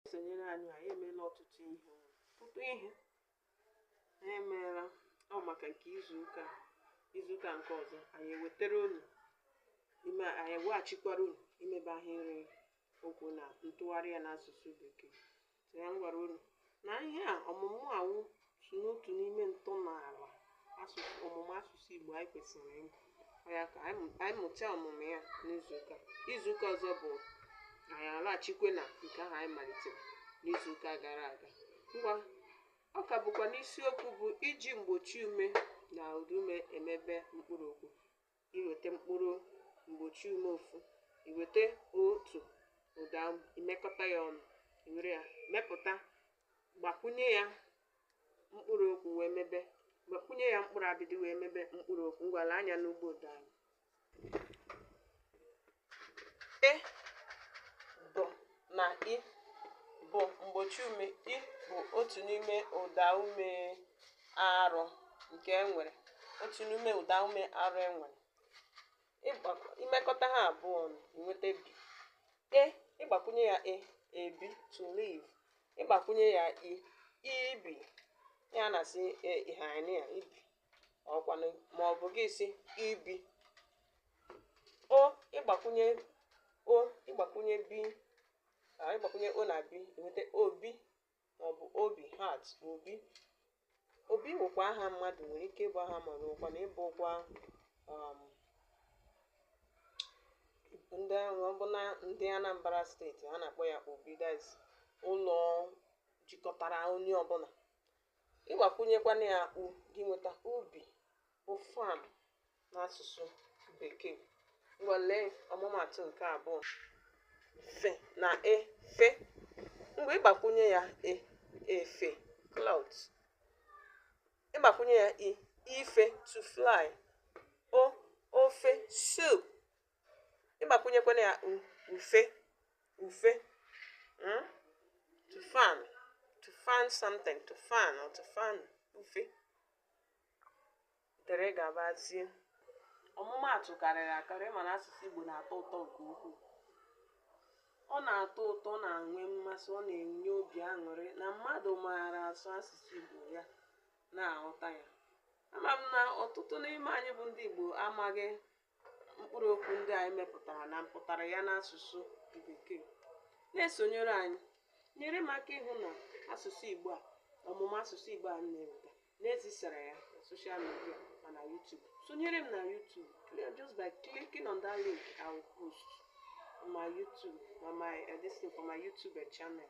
esonyere anyị anyị emeela ọtụtụ ihe ọtụtụ ihe anyị emeela ọ maka nke izuụka a. izuụka nke ọzọ anyị ewetara unu ime anyị eweghachikwara unu imebe ahịrị okwu na ntụgharị ya n'asụsụ bekee so ya m gwara unu na ihe a ọmụmụ a wụ so n'otu n'ime ntọala asụsụ ọmụmụ asụsụ Igbo anyị kwesịrị ịmụ Ọ ya ka anyị mụ- anyị mụchaa ọmụmụ ya n'izuụka izuụka ọzọ bụ anyị alaghachikwe na nke ahụ anyị malitere n'izuụka gara aga ngwa ọ ka bụkwa n'isiokwu bụ iji mgbochi ume na ụdaume emebe mkpụrụ okwu i weta mkpụrụ mgbochi ume ofu i weta otu ụda ume i mekọta ya ọnụ i were ya mepụta gbakwunye ya mkpụrụ okwu wee mebe gbakwunye ya mkpụrụ abịdịị wee mebe mkpụrụ okwu ngwa lee anya n'ugbo ụda anyị na b bụ mgbochi ume i bụ otu n'ime ụda ume arụ nke e nwere otu n'ime ụda ume arụ e nwere i mekọta ha abụọ ọnụ i nweta bi e ị gbakwunye ya e ebi to live ị gbakwunye ya i ibi ya na-asị e, ihe anyị ya ibi ọkwanụ ma ọ bụ gị sị ibi o ị gbakwunye o ị gbakwunye bi a ị gbakwunye o na bi e nweta obi ma ọ bụ obi heart obi obi wụkwa aha mmadụ nwere ike ịbụ aha mmadụ wụkwanụ bụkwa um, ndị ahụ ọ bụ na ndị Anambra steeti ha na-akpọ ya obi that's ụlọ jikọtara onye ọbụla ị gbakwụnyekwanụ ya u gị nweta ubi bụ farm n'asụsụ bekee ngwa lee ọmụmatụ nke abụọ f na e fe mgbe ị gbakwụnye ya e efe cloth ị gbakwụnye ya i ife to fly o ofe soup ị gbakwunyekwanụ ya ufe ufe hmm? to fan to fan something to fan or to fan ufe dere gabazie ọmụmaatụ karịrị akarị mana asụsụ Igbo na-atọ ụtọ nke ukwuu ọ na-atọ ụtọ na-enwe mmasị ọ na-enye obi aṅụrị na mmadụ maara asụ asụsụ Igbo ya na-aghọta ya ama m na ọtụtụ n'ime anyị bụ ndị Igbo amaghị mkpụrụ okwu ndị anyị mepụtara na mpụtara ya n'asụsụ Bekee. Na-esonyere anyị, nyere m aka ịhụ na asụsụ Igbo a ọmụmụ asụsụ Igbo a m na-eweta na-ezisara ya na social media ma na YouTube. Sonyere m na YouTube just by clicking on that link I will post on my YouTube, on my uh, this thing for my YouTube channel.